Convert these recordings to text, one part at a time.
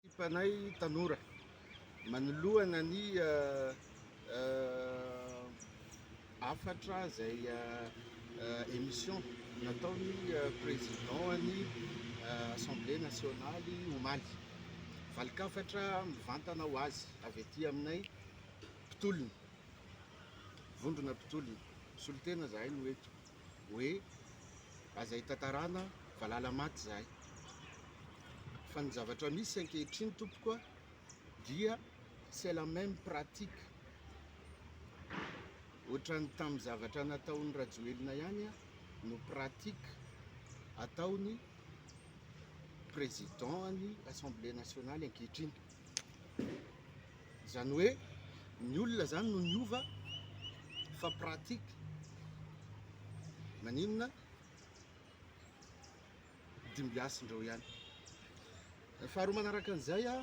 Ekipanay tanora manoloana ny hafatra izay émission nataon'ny Président-n'ny Assemblée Nationale omaly. Valin-kafatra mivantana ho azy avy aty aminay mpitolona, vondrona mpitolona. Misolo tena izahay no eto. hoe aza hitantarana valala maty izahay fa ny zavatra misy ankehitriny tompoko a dia c'est la même pratique ohatran'ny tamin'ny zavatra nataon'ny Rajoelina ihany a no pratique ataony président ny assemblée nationale ankehitriny Izany hoe ny olona izany no niova fa pratique maninona dimbiasindrao ihany. Faharoa manaraka an'izay a,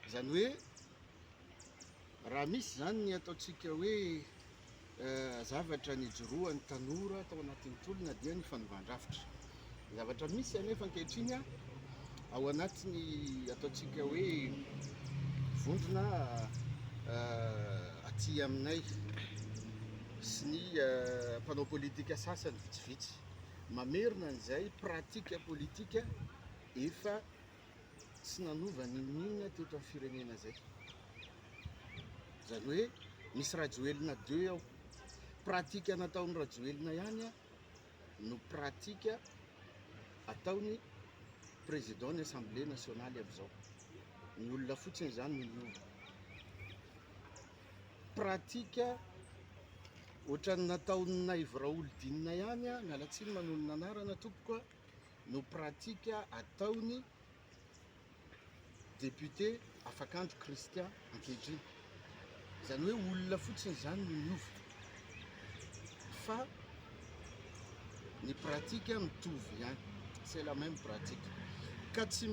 izany hoe raha misy izany ny ataontsika hoe Zavatra nijoroan'ny tanora tao anatin'ny tolona dia ny fanovan-drafitra. Ny zavatra misy anefa ankehitriny ao anatin'ny ataontsika hoe vondrona aty aminay sy ny mpanao politika sasany vitsivitsy mamerina an'izay pratika politika efa tsy nanova n'inon'inona teto amin'ny firenena izay. Izany hoe misy Rajoelina deux ao. Pratika nataon'i Rajoelina ihany no pratika ataon'ny président ny Assemblée nationale amin'izao. Ny olona fotsiny izany no miova. Pratika ohatran'ny nataon'ny Naivo Raholdinina ihany, miala tsiny manonona anarana tompoko. no pratika ataon'ny député Afakandro Christian ankehitriny. Izany hoe olona fotsiny izany no niova fa ny pratika mitovy ihany, c'est la même pratique. Ka tsy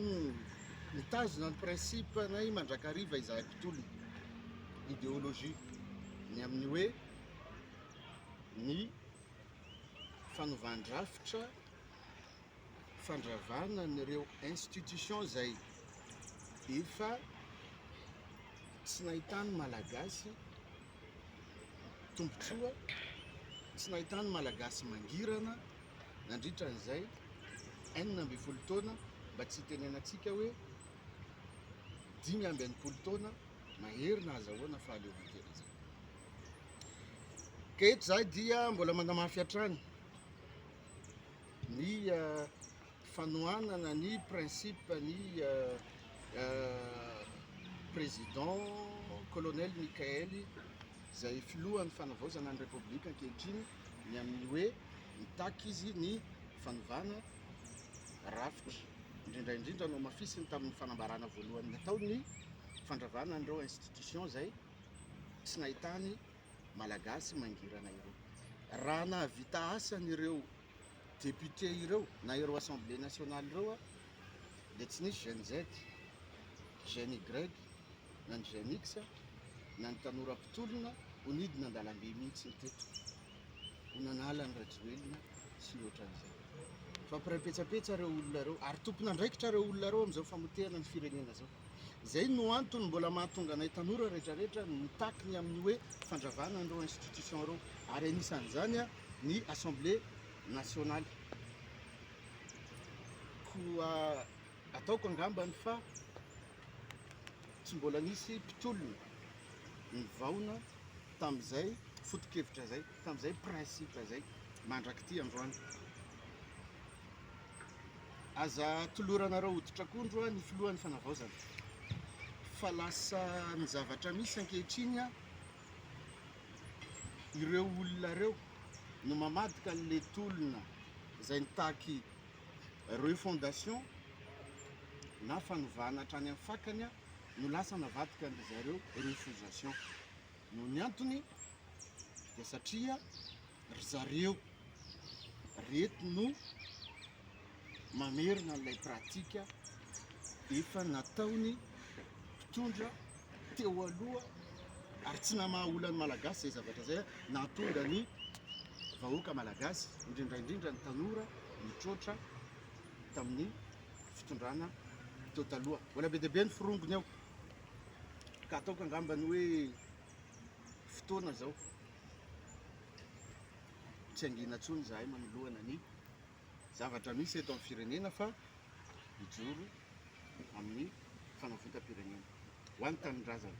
mitazona ny principe-nay mandrakariva izahay mpitolona, idéologie, ny amin'ny hoe ny fanovan-drafitra, fandravana an'ireo institutions izay efa tsy nahitany Malagasy tombontsoa, tsy nahitany Malagasy mangirana nandritra an'izay enina ambin'ny folo taona, mba tsy hitenenantsika hoe dimy amby enimpolo taona mahery na azahoana fahaleovantena izay. Ka eto izahay dia mbola manamafy hatrany ny eh, fanohanana ny principe ny eh, eh, président colonel Michael izay filohan'ny fanavaozana ny République ankehitriny ny amin'ny hoe mitaky izy ny fanovana rafitra indrindra indrindra no hamafisiny tamin'ny fanambarana voalohany nataony fandravana an'ireo institution izay tsy nahitany malagasy mangirana ireo. Raha nahavita asany ireo député ireo na ireo assemblée nationale ireo dia tsy nisy jeune Z, jeune Y na ny jeune X na ny tanora mpitolona ho nidina an-dalambe mihitsy ny teto ho nanala ny Rajoelina sy ny ohatran'izay. Fampiraim-petsapetsa ireo olona ireo ary tompon'andraikitra ireo olona ireo amin'izao famoteana ny firenena izao. Izay no antony mbola mahatonga anay tanora rehetrarehetra mitaky ny amin'ny hoe fandravana an'ireo institutions ireo, ary anisan'izany ny Assemblée nationale. Koa ataoko angambany fa tsy mbola nisy mpitolona nivaona tamin'izay foto-kevitra izay, tamin'izay principe izay mandrak'ity androany. Aza toloranareo hoditra akondro ny filohan'ny fanavaozana fa lasa ny zavatra misy ankehitriny ireo olona ireo no mamadika an'ilay tolona izay nitaky refondation na fanovana hatrany amin'ny fakany no lasa navadika an-dry zareo refusation. Noho ny antony dia satria. Ry zareo reto no mamerina an'ilay pratika efa nataon'ny mpitondra teo aloha ary tsy namaha olan'ny Malagasy izay zavatra izay nahatonga ny vahoaka Malagasy indrindra indrindra ny tanora nitroatra tamin'ny fitondrana teo taloha. Mbola be dia be ny forongony ao ka ataoko angambany hoe fotoana izao, tsy hangina intsony izahay manoloana ny zavatra misy eto amin'ny firenena fa hijoro amin'ny fanavotam-pirenena ho an'ny tanindrazana.